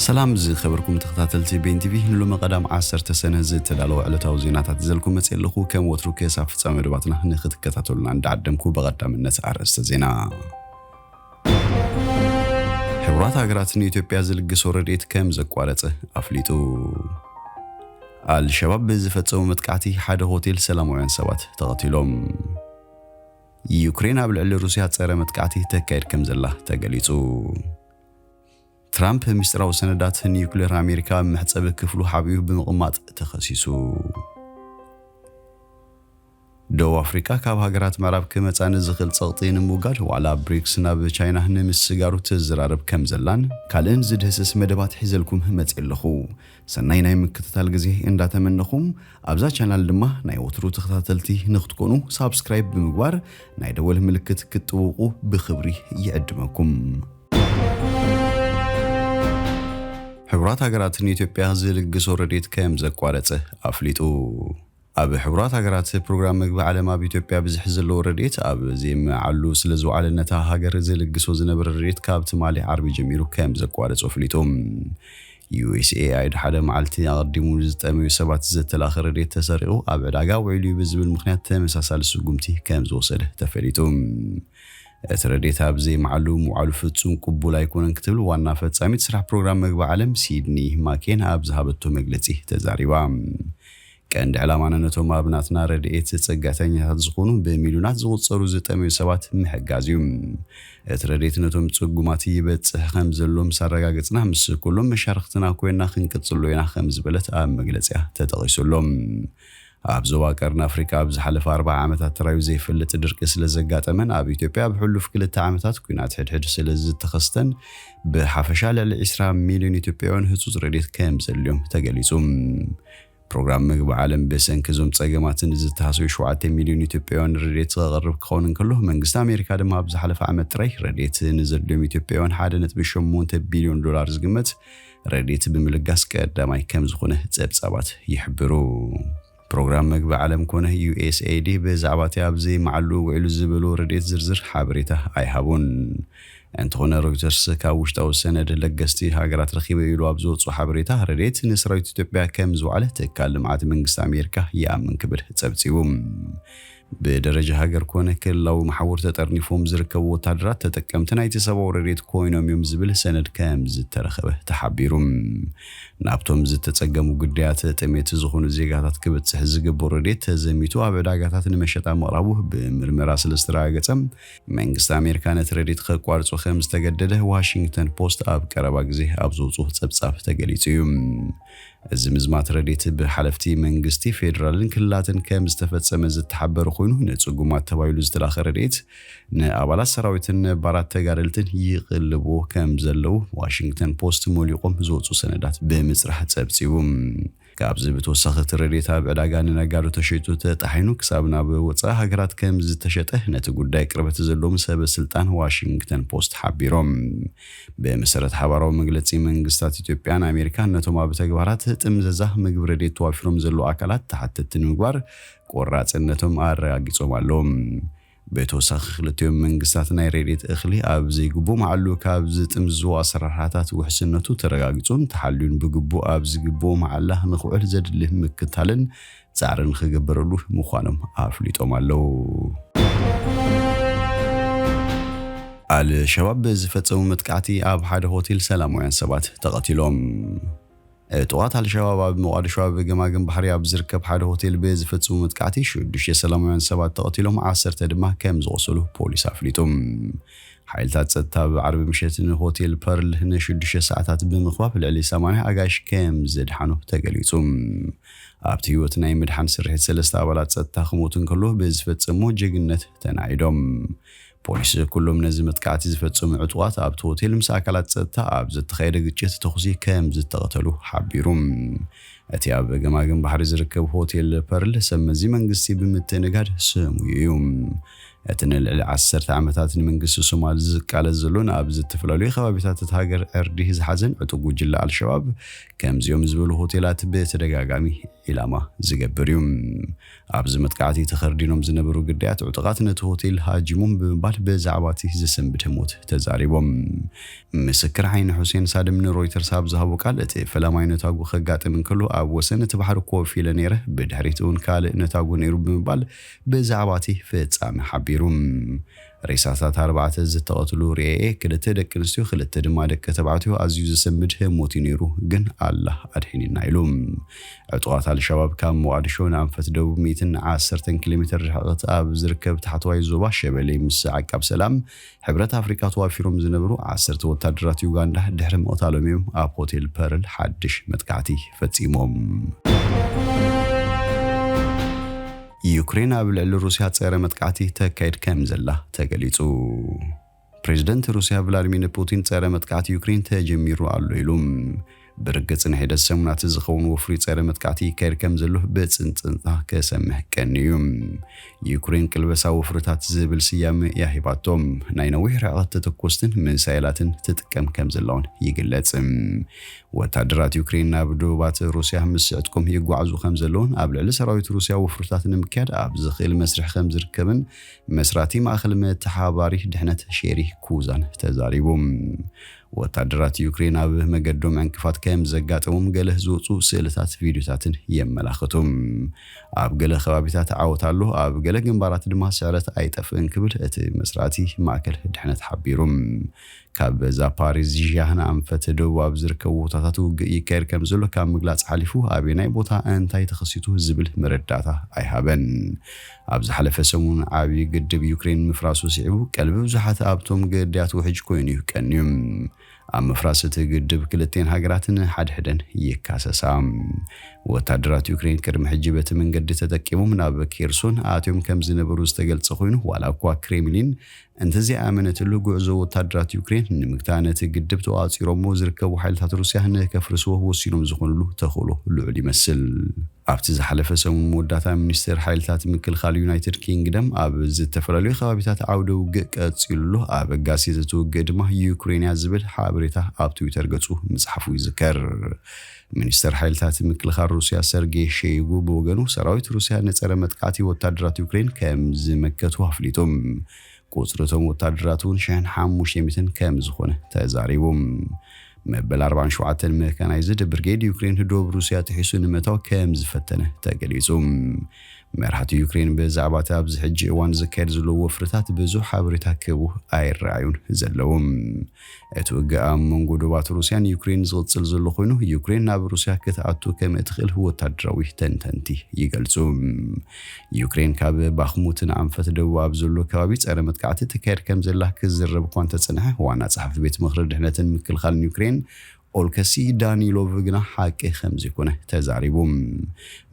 ሰላም ዝከበርኩም ተከታተልቲ ቤን ቲቪ ንሎሚ ቀዳም ዓሰርተ ሰነ ዝተዳለወ ዕለታዊ ዜናታት ይዘልኩም መጽየ ኣለኩ ከም ወትሩ ክሳብ ፍጻሜ መደባትና ንክትከታተሉና እንዳዓደምኩ ብቀዳምነት ኣርእስተ ዜና ሕቡራት ሃገራት ንኢትዮጵያ ዝልግሶ ረድኤት ከም ዘቋረጸ ኣፍሊጡ ኣልሸባብ ብዝፈጸሙ መጥቃዕቲ ሓደ ሆቴል ሰላማውያን ሰባት ተቐቲሎም ዩክሬን ኣብ ልዕሊ ሩስያ ጸረ መጥቃዕቲ ተካይድ ከም ዘላ ተገሊጹ ትራምፕ ሚስጥራዊ ሰነዳት ንዩክሌር ኣሜሪካ ኣብ መሕጸቢ ክፍሉ ሓቢኡ ብምቕማጥ ተኸሲሱ። ደቡብ ኣፍሪቃ ካብ ሃገራት ምዕራብ ክመጻ ንዝኽእል ጸቕጢ ንምውጋድ ዋዕላ ብሪክስ ናብ ቻይና ንምስጋሩ ትዝራረብ ከም ዘላን ካልእን ዝድህስስ መደባት ሒዘልኩም መጺኤ ኣለኹ። ሰናይ ናይ ምክትታል ግዜ እንዳተመነኹ ኣብዛ ቻናል ድማ ናይ ወትሩ ተኸታተልቲ ንክትኮኑ ሳብስክራይብ ብምግባር ናይ ደወል ምልክት ክትጥውቑ ብኽብሪ ይዕድመኩም። ሕቡራት ሃገራት ንኢትዮጵያ ዝልግሶ ረድኤት ከም ዘቋረጸ ኣፍሊጡ። ኣብ ሕቡራት ሃገራት ፕሮግራም መግቢ ዓለም ኣብ ኢትዮጵያ ብዝሒ ዘለዎ ረድኤት ኣብ ዘይመዓሉ ስለ ዝውዓለ ነታ ሃገር ዝልግሶ ዝነበረ ረድኤት ካብ ትማሊ ዓርቢ ጀሚሩ ከም ዘቋረጾ ኣፍሊጡ። ዩኤስኤኣይድ ሓደ መዓልቲ ኣቐዲሙ ንዝጠመዩ ሰባት ዘተላኸ ረድኤት ተሰሪቑ ኣብ ዕዳጋ ውዒሉ እዩ ብዝብል ምኽንያት ተመሳሳሊ ስጉምቲ ከም ዝወሰደ ተፈሊጡ። እቲ ረድኤት ኣብ ዘይምዓሉ ምውዓሉ ፍጹም ቅቡል ኣይኮነን ክትብል ዋና ፈጻሚት ስራሕ ፕሮግራም መግቢ ዓለም ሲድኒ ማኬን ኣብ ዝሃበቶ መግለጺ ተዛሪባ። ቀንዲ ዕላማና ነቶም ኣብ ናትና ረድኤት ጽግዕተኛታት ዝኾኑ ብሚልዮናት ዝቑጸሩ ዝጠመዩ ሰባት ምሕጋዝ እዩ። እቲ ረድኤት ነቶም ጽጉማት ይበጽሕ ከም ዘሎ ምስ ኣረጋገጽና ምስ ኩሎም መሻርኽትና ኮይና ክንቅጽሎ ኢና ከም ዝበለት ኣብ መግለጺኣ ተጠቒሱ ኣሎ። ኣብ ዞባ ቀርኒ ኣፍሪቃ ኣብ ዝሓለፈ ኣርብዓ ዓመታት ተራዩ ዘይፈልጥ ድርቂ ስለዘጋጠመን ኣብ ኢትዮጵያ ኣብ ሕሉፍ ክልተ ዓመታት ኲናት ሕድሕድ ስለዝተኸስተን ብሓፈሻ ልዕሊ ዕስራ ሚልዮን ኢትዮጵያውያን ህጹጽ ረድኤት ከምዘድልዮም ተገሊጹ። ፕሮግራም ምግቢ ዓለም ብሰንኪ እዞም ጸገማትን ዝተሃሰዩ ሸውዓተ ሚልዮን ኢትዮጵያውያን ረድኤት ከቕርብ ክኸውን እንከሎ መንግስቲ ኣሜሪካ ድማ ኣብ ዝሓለፈ ዓመት ጥራይ ረድኤት ንዘድልዮም ኢትዮጵያውያን ሓደ ነጥቢ ሸሞንተ ቢልዮን ዶላር ዝግመት ረድኤት ብምልጋስ ቀዳማይ ከምዝኾነ ፀብፃባት ይሕብሩ። ፕሮግራም መግቢ ዓለም ኮነ ዩኤስኤይዲ ብዛዕባ እቲ ኣብ ዘይመዓልኡ ውዒሉ ዝበልዎ ረድኤት ዝርዝር ሓበሬታ ኣይሃቡን። እንተኾነ ሮይተርስ ካብ ውሽጣዊ ሰነድ ለገስቲ ሃገራት ረኺበ ኢሉ ኣብ ዘውፅኦ ሓበሬታ ረድኤት ንሰራዊት ኢትዮጵያ ከምዝወዓለ ትካል ልምዓት መንግስቲ ኣሜሪካ ይኣምን ክብል ፀብፂቡ። ብደረጃ ሃገር ኮነ ክልላዊ መሓውር ተጠርኒፎም ዝርከቡ ወታደራት ተጠቀምቲ ናይቲ ሰብኣዊ ረድኤት ኮይኖም እዮም ዝብል ሰነድ ከምዝተረኸበ ተሓቢሩ። ናብቶም ዝተፀገሙ ግዳያት ጥሜት ዝኾኑ ዜጋታት ክብፅሕ ዝግብኦ ረድኤት ተዘሚቱ ኣብ ዕዳጋታት ንመሸጣ ምቕራቡ ብምርመራ ስለዝተረጋገፀ መንግስቲ ኣሜሪካ ነቲ ረድኤት ከቋርፆ ከምዝተገደደ ዋሽንግተን ፖስት ኣብ ቀረባ ግዜ ኣብ ዘውፅኦ ፀብፃብ ተገሊፁ እዩ። እዚ ምዝማት ረድኤት ብሓለፍቲ መንግስቲ ፌደራልን ክልላትን ከም ዝተፈፀመ ዝተሓበረ ኮይኑ ንፅጉማት ተባሂሉ ዝተላኸ ረድኤት ንኣባላት ሰራዊትን ነባራት ተጋደልትን ይቕልብዎ ከም ዘለው ዋሽንግተን ፖስት ሞሊቖም ዝወፁ ሰነዳት ብምፅራሕ ፀብፂቡ። ካብዚ ብተወሳኺ እቲ ረድኤት ኣብ ዕዳጋ ንነጋዶ ተሸይጡ ተጣሒኑ ክሳብ ናብ ወፃኢ ሃገራት ከም ዝተሸጠ ነቲ ጉዳይ ቅርበት ዘለዎም ሰበ ስልጣን ዋሽንግተን ፖስት ሓቢሮም። ብመሰረት ሓባራዊ መግለጺ መንግስታት ኢትዮጵያን ኣሜሪካን ነቶም ኣብ ተግባራት ጥምዘዛ ምግቢ ረድኤት ተዋፊሮም ዘለዉ ኣካላት ተሓተትቲ ንምግባር ቆራፅነቶም ኣረጋጊፆም ኣለዉ። ብተወሳኺ ክልቲኦም መንግስታት ናይ ረድኤት እኽሊ ኣብ ዘይግቡእ መዓሉ ካብ ዝጥምዝዝዎ ኣሰራርሓታት ውሕስነቱ ተረጋጊፁን ተሓልዩን ብግቡእ ኣብ ዝግብኡ መዓላ ንክውዕል ዘድሊ ምክታልን ፃዕሪ ንክግበረሉ ምዃኖም ኣፍሊጦም ኣለው። ኣል ሸባብ ብዝፈፀሙ መጥቃዕቲ ኣብ ሓደ ሆቴል ሰላማውያን ሰባት ተቐቲሎም። ዕጡቓት ኣል ሸባብ ኣብ ሞቓድሾ ኣብ ገማግም ባሕሪ ኣብ ዝርከብ ሓደ ሆቴል ብዝፈፅሙ መጥቃዕቲ ሽዱሽተ ሰላማውያን ሰባት ተቐቲሎም ዓሰርተ ድማ ከምዝቖሰሉ ፖሊስ ኣፍሊጡ። ሓይልታት ፀጥታ ኣብ ዓርቢ ምሸት ንሆቴል ፐርል ንሽዱሽተ ሰዓታት ብምኽባብ ልዕሊ ሰማንያ ኣጋይሽ ከምዘድሓኑ ተገሊፁ። ኣብቲ ህይወት ናይ ምድሓን ስርሒት ሰለስተ ኣባላት ጸጥታ ክሞቱ እንከሎ ብዝፈጸምዎ ጀግንነት ተናኢዶም። ፖሊስ ኩሎም ነዚ መጥቃዕቲ ዝፈጸሙ ዕጡቓት ኣብቲ ሆቴል ምስ ኣካላት ጸጥታ ኣብ ዘተኻየደ ግጭት ተኹሲ ከምዝተቐተሉ ሓቢሩ። እቲ ኣብ ገማግም ባሕሪ ዝርከብ ሆቴል ፐርል ሰብመዚ መንግስቲ ብምትእንጋድ ስሙዩ እዩ። እቲ ንልዕሊ ዓሰርተ ዓመታት ንመንግስቲ ሶማል ዝቃለስ ዘሎን ኣብ ዝትፍላለዩ ከባቢታት እታ ሃገር ዕርዲ ዝሓዘን ዕጡቅ ጉጅለ ኣልሸባብ ከምዚኦም ዝበሉ ሆቴላት ብተደጋጋሚ ዒላማ ዝገብር እዩ። ኣብዚ መጥቃዕቲ ተኸርዲኖም ዝነበሩ ግዳያት ዕጡቃት ነቲ ሆቴል ሃጂሞም ብምባል ብዛዕባ እቲ ዝሰንብደ ሞት ተዛሪቦም። ምስክር ዓይኒ ሑሴን ሳድም ንሮይተርስ ኣብ ዝሃቦ ቃል እቲ ፈላማይ ነታጉ ከጋጥም እንከሎ ኣብ ወሰን እቲ ባሕሪ ኮፍ ኢለ ነይረ፣ ብድሕሪት እውን ካልእ ነታጉ ነይሩ ብምባል ብዛዕባ'ቲ ፍጻመ ሓቢሩ። ሬሳታት ኣርባዕተ ዝተቐትሉ ርኤየ፣ ክልተ ደቂ ኣንስትዮ ክልተ ድማ ደቂ ተባዕትዮ፣ ኣዝዩ ዘሰምብድ ህሞት'ዩ ነይሩ፣ ግን ኣላህ ኣድሒኒና ኢሉ። ዕጡቓት ኣልሻባብ ካብ ሞቓድሾ ንኣንፈት ደቡብ ሚእትን ዓሰርተን ኪሎሜተር ርሕቕት ኣብ ዝርከብ ታሕተዋይ ዞባ ሸበሌ ምስ ዓቃብ ሰላም ሕብረት ኣፍሪቃ ተዋፊሮም ዝነበሩ ዓሰርተ ወታደራት ዩጋንዳ ድሕሪ ምቕታሎም'ዮም ኣብ ሆቴል ፐርል ሓድሽ መጥቃዕቲ ፈጺሞም። ዩክሬን ኣብ ልዕሊ ሩስያ ጸረ መጥቃዕቲ ተካይድ ከምዘላ ተገሊጹ። ፕሬዝደንት ሩስያ ቭላድሚር ፑቲን ጸረ መጥቃዕቲ ዩክሬን ተጀሚሩ ኣሎ ኢሉ። ብርግጽ ንሒደት ሰሙናት ዝኸውን ወፍሪ ጸረ መጥቃዕቲ ይካየድ ከም ዘሎ ብጽንጽንታ ክሰምዕ ቀንዩ። ዩክሬን ቅልበሳ ወፍርታት ዝብል ስያመ እያ ሂባቶ። ናይ ነዊሕ ርሕቐት ተተኮስትን ሚሳይላትን ትጥቀም ከም ዘላውን ይግለጽ። ወታደራት ዩክሬን ናብ ዶባት ሩስያ ምስ ዕጥቆም ይጓዓዙ ከም ዘለውን ኣብ ልዕሊ ሰራዊት ሩስያ ወፍርታት ንምክያድ ኣብ ዝኽእል መስርሕ ከም ዝርከብን መስራቲ ማእከል መተሓባባሪ ድሕነት ሼሪ ኩዛን ተዛሪቡ። ወታደራት ዩክሬን ኣብ መገዶም ዕንቅፋት ከም ዘጋጠሞም ገለ ዝወጹ ስእልታት ቪድዮታትን የመላኽቱ። ኣብ ገለ ከባቢታት ዓወት ኣሎ፣ ኣብ ገለ ግንባራት ድማ ስዕረት ኣይጠፍእን ክብል እቲ መስራቲ ማእከል ድሕነት ሓቢሩ። ካብ ዛፓሪዝዥያ ንኣንፈት ደቡብ ኣብ ዝርከቡ ቦታታት ውግእ ይካየድ ከም ዘሎ ካብ ምግላጽ ሓሊፉ ኣበየናይ ቦታ እንታይ ተኸሲቱ ዝብል መረዳእታ ኣይሃበን። ኣብ ዝሓለፈ ሰሙን ዓብዪ ግድብ ዩክሬን ምፍራሱ ስዒቡ ቀልቢ ብዙሓት ኣብቶም ግዳያት ውሕጅ ኮይኑ እዩ ቀንዩ። ኣብ ምፍራስ እቲ ግድብ ክልቲኤን ሃገራት ንሓድሕደን ይካሰሳ። ወታደራት ዩክሬን ቅድሚ ሕጂ በቲ መንገዲ ተጠቂሞም ናብ ኬርሶን ኣትዮም ከም ዝነበሩ ዝተገልጸ ኮይኑ ዋላ እኳ ክሬምሊን እንተዘይኣመነትሉ ጉዕዞ ወታደራት ዩክሬን ንምግታ ነቲ ግድብ ተቋጺሮሞ ዝርከቡ ሓይልታት ሩስያ ንከፍርስዎ ወሲኖም ዝኾኑሉ ተኽእሎ ልዑል ይመስል። ኣብቲ ዝሓለፈ ሰሙን መወዳእታ ሚኒስቴር ሓይልታት ምክልኻል ዩናይትድ ኪንግደም ኣብ ዝተፈላለዩ ከባቢታት ዓውደ ውግእ ቀፂሉ ኣሎ፣ ኣብ ኣጋሲት እቲ ውግእ ድማ ዩክሬን እያ ዝብል ሓበሬታ ኣብ ትዊተር ገፁ ምፅሓፉ ይዝከር። ሚኒስተር ሓይልታት ምክልኻል ሩስያ ሰርጌይ ሸይጉ ብወገኑ ሰራዊት ሩስያ ንፀረ መጥቃዕቲ ወታደራት ዩክሬን ከምዝመከቱ ኣፍሊጡ። ቁጽሪ እቶም ወታደራት እውን ሽሕን ሓሙሽተ ሚእትን ከም ዝኾነ ተዛሪቡ። መበል ኣርባዓን ሸውዓተን መካናይዝድ ብርጌድ ዩክሬን ህዶብ ሩስያ ጥሒሱ ንምእታው ከም ዝፈተነ ተገሊጹ። መራሕቲ ዩክሬን ብዛዕባ እቲ ኣብዚ ሕጂ እዋን ዝካየድ ዘሎ ወፍርታት ብዙሕ ሓበሬታ ክህቡ ኣይረኣዩን ዘለዉ። እቲ ውግእ ኣብ መንጎ ዶባት ሩስያን ዩክሬንን ዝቕጽል ዘሎ ኮይኑ፣ ዩክሬን ናብ ሩስያ ክትኣቱ ከም እትኽእል ወተሃደራዊ ተንተንቲ ይገልጹ። ዩክሬን ካብ ባክሙትን ኣንፈት ደቡብ ኣብ ዘሎ ከባቢ ጸረ መጥቃዕቲ ተካይድ ከም ዘላ ክዝረብ እኳ እንተጸንሐ፣ ዋና ጸሓፊ ቤት ምኽሪ ድሕነትን ምክልኻልን ዩክሬን ኦልከሲ ዳኒሎቭ ግና ሓቂ ከምዘይኮነ ተዛሪቡ።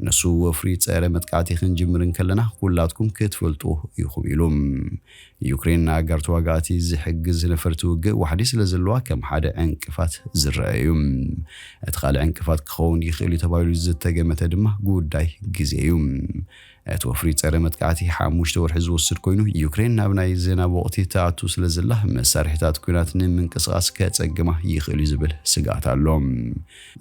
ንሱ ወፍሪ ጸረ መጥቃዕቲ ክንጅምር እንከለና ኩላትኩም ክትፈልጥዎ ኢኹም ኢሉ። ዩክሬን ንኣጋር ተዋጋእቲ ዝሕግዝ ነፈርቲ ውግእ ዋሕዲ ስለዘለዋ ከም ሓደ ዕንቅፋት ዝረኣ እዩ። እቲ ካልእ ዕንቅፋት ክኸውን ይኽእል'ዩ ተባሂሉ ዝተገመተ ድማ ጉዳይ ግዜ እዩ። እቲ ወፍሪ ጸረ መጥቃዕቲ ሓሙሽተ ወርሒ ዝወስድ ኮይኑ፣ ዩክሬን ናብ ናይ ዝናብ ወቕቲ ትኣቱ ስለዘላ መሳርሒታት ኲናት ንምንቅስቓስ ከጸግማ ይኽእል'ዩ ዝብል ስግኣት ኣሎ።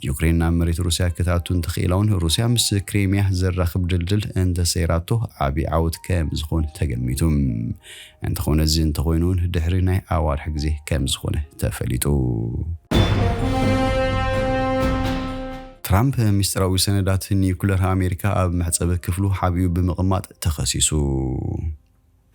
ዩክሬን ናብ መሬት ሩስያ ክትኣቱ እንተኽኢላ'ውን ሩስያ ምስ ክሬሚያ ዘራኽብ ድልድል እንተሰይራቶ ዓቢ ዓወት ከምዝኾን ተገሚቱ። እንተኾነ እዚ እንተኾይኑ እውን ድሕሪ ናይ ኣዋርሕ ግዜ ከምዝኾነ ተፈሊጡ። ትራምፕ ሚስጥራዊ ሰነዳት ኒዩክለር ኣሜሪካ ኣብ መሕጸቢ ክፍሉ ሓቢኡ ብምቕማጥ ተኸሲሱ።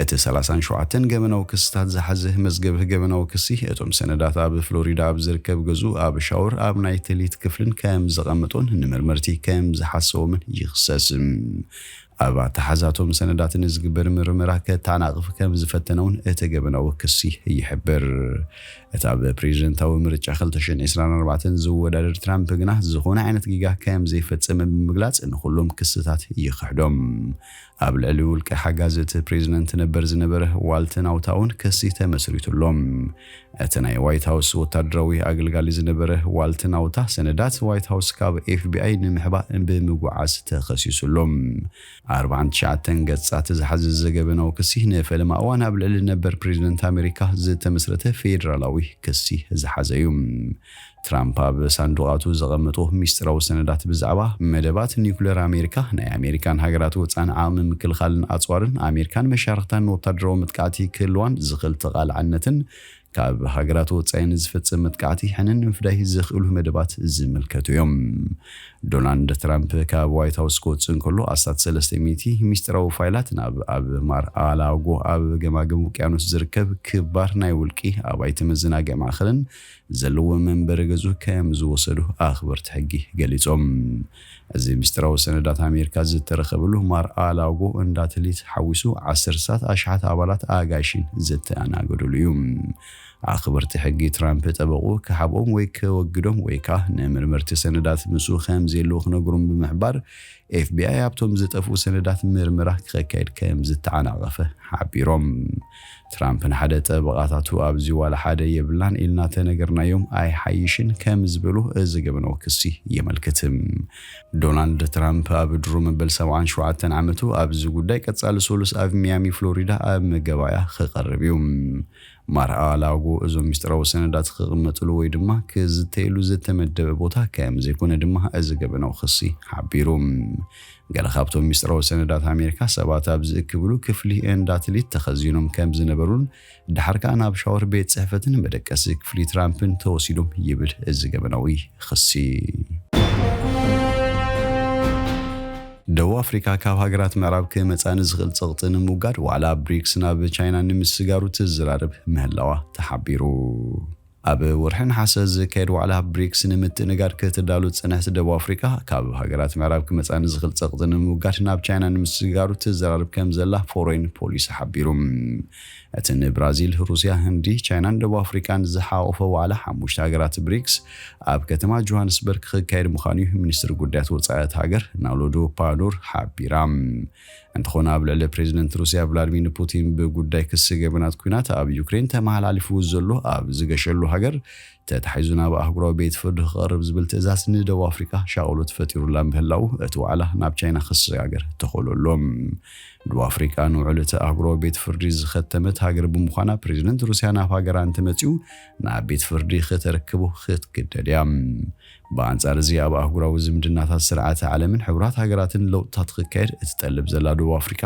እቲ ሰላሳን ሸውዓተን ገበናዊ ክስታት ዝሓዘ መዝገብ ገበናዊ ክሲ፣ እቶም ሰነዳት ኣብ ፍሎሪዳ ኣብ ዝርከብ ገዝኡ ኣብ ሻወር ኣብ ናይ ትልሂት ክፍልን ከም ዘቐመጦን ንመርመርቲ ከም ዝሓሰዎምን ይኽሰስ። ኣብ ኣተሓሕዛቶም ሰነዳት ንዝግበር ምርመራ ከታናቕፍ ከምዝፈተነ'ውን እቲ ገበናዊ ክሲ ይሕብር። እቲ ኣብ ፕሬዚደንታዊ ምርጫ ክልተ ሽሕን ዒስራን ኣርባዕተን ዝወዳደር ትራምፕ ግና ዝኾነ ዓይነት ጌጋ ከምዘይፈፀመ ብምግላፅ ንኹሎም ክስታት ይኽሕዶም። ኣብ ልዕሊ ውልቀ ሓጋዚ እቲ ፕሬዚደንት ነበር ዝነበረ ዋልት ናውታ'ውን ክሲ ተመስሪቱ'ሎ። እቲ ናይ ዋይት ሃውስ ወታደራዊ ኣገልጋሊ ዝነበረ ዋልት ናውታ ሰነዳት ዋይት ሃውስ ካብ ኤፍቢኣይ ንምሕባእ ብምጉዓዝ ተኸሲሱ ኣሎ። ኣርብዓን ትሽዓተን ገጻት ዝሓዘ ዘገበ ናው ክሲ ንፈለማ እዋን ኣብ ልዕሊ ነበር ፕሬዚደንት ኣሜሪካ ዝተመስረተ ፌዴራላዊ ክሲ ዝሓዘ እዩ። ትራምፕ ኣብ ሳንዱቓቱ ዘቐመጦ ሚስጢራዊ ሰነዳት ብዛዕባ መደባት ኒዩክለር ኣሜሪካ፣ ናይ ኣሜሪካን ሃገራት ወጻእን ዓቕሚ ምክልኻልን ኣጽዋርን፣ ኣሜሪካን መሻርኽታን ንወታደራዊ መጥቃዕቲ ክህልዋን ዝኽእል ተቓላዕነትን ካብ ሃገራት ወጻኢ ንዝፍጸም መጥቃዕቲ ሕነ ንምፍዳይ ዘኽእሉ መደባት ዝምልከቱ እዮም። ዶናልድ ትራምፕ ካብ ዋይት ሃውስ ክወጽእ እንከሎ ኣስታት ሰለስተ ሚእቲ ሚስጢራዊ ፋይላት ናብ ኣብ ማር-ኣ-ላጎ ኣብ ገማግም ውቅያኖስ ዝርከብ ክባር ናይ ውልቂ ኣባይቲ መዘናግዒ ማእከልን ዘለዎ መንበሪ ገዝኡ ከም ዝወሰዱ ኣኽበርቲ ሕጊ ገሊጾም። እዚ ምስጢራዊ ሰነዳት ኣሜሪካ ዝተረኸበሉ ማር ኣላጎ እንዳ ትሊት ሓዊሱ ዓሰርተታት ኣሽሓት ኣባላት ኣጋይሽን ዝተኣናገዱሉ እዩ። ኣኽበርቲ ሕጊ ትራምፕ ጠበቕኡ ክሓብኦም ወይ ከወግዶም ወይ ከኣ ንመርመርቲ ሰነዳት ምስኡ ከም ዘየለዉ ክነግሮም ብምሕባር ኤፍቢኣይ ኣብቶም ዝጠፍኡ ሰነዳት ምርመራ ክኸካየድ ከም ዝተዓናቐፈ ሓቢሮም። ትራምፕን ሓደ ጠበቓታቱ ኣብዚ ዋላ ሓደ የብልናን ኢልና ተነገርናዮም ኣይሓይሽን ከምዝበሉ እዚ ገበናዊ ክሲ የመልክት። ዶናልድ ትራምፕ ኣብ ድሮ መበል ሰብዓን ሸውዓተን ዓመቱ ኣብዚ ጉዳይ ቀፃሊ ሰሉስ ኣብ ሚያሚ ፍሎሪዳ ኣብ መጋባእያ ክቐርብ እዩ። ማር-ኣ-ላጎ እዞም ሚስጥራዊ ሰነዳት ክቕመጥሉ ወይ ድማ ክዝተየሉ ዝተመደበ ቦታ ከምዘይኮነ ድማ እዚ ገበናዊ ክሲ ሓቢሩ። ገለ ካብቶም ሚስጥራዊ ሰነዳት ኣሜሪካ ሰባት ኣብ ዝእክብሉ ክፍሊ ኤንዳትሊት ተኸዚኖም ከም ዝነበሩን ደሓር ከኣ ናብ ሻወር ቤት ጽሕፈትን መደቀሲ ክፍሊ ትራምፕን ተወሲዶም ይብል እዚ ገበናዊ ኽሲ። ደቡብ ኣፍሪካ ካብ ሃገራት ምዕራብ ክመጻ ንዝኽእል ጸቕጢ ንምውጋድ ዋዕላ ብሪክስ ናብ ቻይና ንምስጋሩ ትዘራረብ ምህላዋ ተሓቢሩ። ኣብ ወርሒ ነሓሰ ዝካየድ ዋዕላ ብሪክስ ንምትእንጋድ ክትዳሉ ዝጸንሐት ደቡብ ኣፍሪቃ፣ ካብ ሃገራት ምዕራብ ክመጻ ንዝኽእል ጸቕጢ ንምውጋድ ናብ ቻይና ንምስግጋሩ ትዘራረብ ከምዘላ ፎሬን ፖሊሲ ሓቢሩ። እቲ ንብራዚል፣ ሩስያ፣ ህንዲ፣ ቻይናን ደቡብ ኣፍሪቃን ዝሓቖፈ ዋዕላ ሓሙሽተ ሃገራት ብሪክስ ኣብ ከተማ ጆሃንስበርግ ክካየድ ምዃኑ'ዩ ሚኒስትሪ ጉዳያት ወጻኢ እታ ሃገር ናሎዱ ፓኑር ሓቢራ። እንተኾነ ኣብ ልዕሊ ፕሬዚደንት ሩሲያ ቭላድሚን ፑቲን ብጉዳይ ክሲ ገበናት ኩናት ኣብ ዩክሬን ተመሃላሊፍዎ ዘሎ ኣብ ዝገሸሉ ሃገር ተታሒዙ ናብ ኣህጉራዊ ቤት ፍርዲ ክቐርብ ዝብል ትእዛዝ ንደቡብ ኣፍሪቃ ሻቕሎት ፈጢሩላ ምህላው እቲ ዋዕላ ናብ ቻይና ክሰጋገር ተኸእሎ ኣሎ። ደቡብ ኣፍሪቃ ንውዕል እቲ ኣህጉራዊ ቤት ፍርዲ ዝኸተመት ሃገር ብምዃና ፕሬዚደንት ሩሲያ ናብ ሃገራ እንተመጺኡ ናብ ቤት ፍርዲ ክተርክቦ ክትግደድ እያ። ብኣንጻር እዚ ኣብ ኣህጉራዊ ዝምድናታት ስርዓተ ዓለምን ሕቡራት ሃገራትን ለውጥታት ክካየድ እትጠልብ ዘላ ደቡብ ኣፍሪቃ፣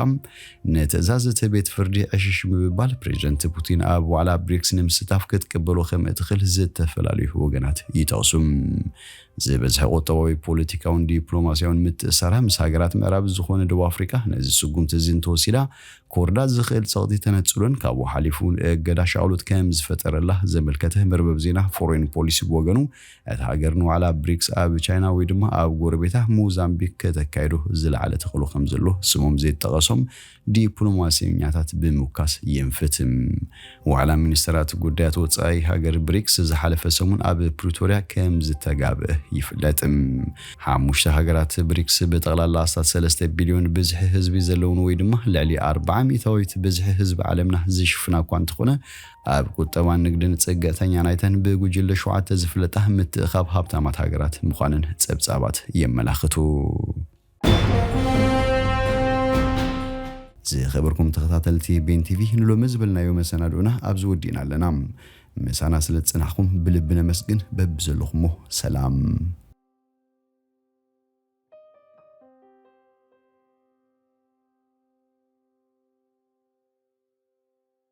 ንትእዛዝ እቲ ቤት ፍርዲ ዕሽሽ ምብባል ፕሬዚደንት ፑቲን ኣብ ዋዕላ ብሪክስ ንምስታፍ ክትቅበሎ ከም እትኽእል ዝተፈላለዩ ወገናት ይጠቕሱ። ዝበዝሐ ቁጠባዊ፣ ፖለቲካውን ዲፕሎማስያውን ምትእስሳራ ምስ ሃገራት ምዕራብ ዝኾነ ደቡብ ኣፍሪቃ ነዚ ስጉምቲ እዚ እንተወሲዳ ክወርዳ ዝኽእል ጸቕጢ ተነጽሎን ካብኡ ሓሊፉ እገዳ ሻቕሎት ከም ዝፈጠረላ ዘመልከተ መርበብ ዜና ፎሬን ፖሊሲ ብወገኑ እታ ሃገር ንዋዕላ ብሪክስ ኣብ ቻይና ወይ ድማ ኣብ ጎረቤታ ሞዛምቢክ ከተካይዶ ዝለዓለ ተኽእሎ ከምዘሎ ስሞም ዘይጠቐሶም ዲፕሎማሰኛታት ብምውካስ የንፍት። ዋዕላ ሚኒስተራት ጉዳያት ወጻኢ ሃገር ብሪክስ ዝሓለፈ ሰሙን ኣብ ፕሪቶርያ ከምዝተጋብእ ይፍለጥ። ሓሙሽተ ሃገራት ብሪክስ ብጠቕላላ ኣስታት ሰለስተ ቢልዮን ብዝሒ ህዝቢ ዘለውን ወይ ድማ ልዕሊ ኣርብዓ ሚእታዊት ብዝሒ ህዝቢ ዓለምና ዝሽፍና እኳ እንተኾነ ኣብ ቁጠባን ንግድን ጽግዕተኛ ናይተን ብጉጅለ ሸውዓተ ዝፍለጣ ምትእኻብ ሃብታማት ሃገራት ምዃነን ጸብጻባት የመላኽቱ። ዝኸበርኩም ተኸታተልቲ ቤን ቲቪ ንሎሚ ዝበልናዮ መሰናድኡና ኣብዚ ወዲእና ኣለና። ምሳና ስለ ዝጸናሕኩም ብልቢ ነመስግን። በብዘለኹሞ ሰላም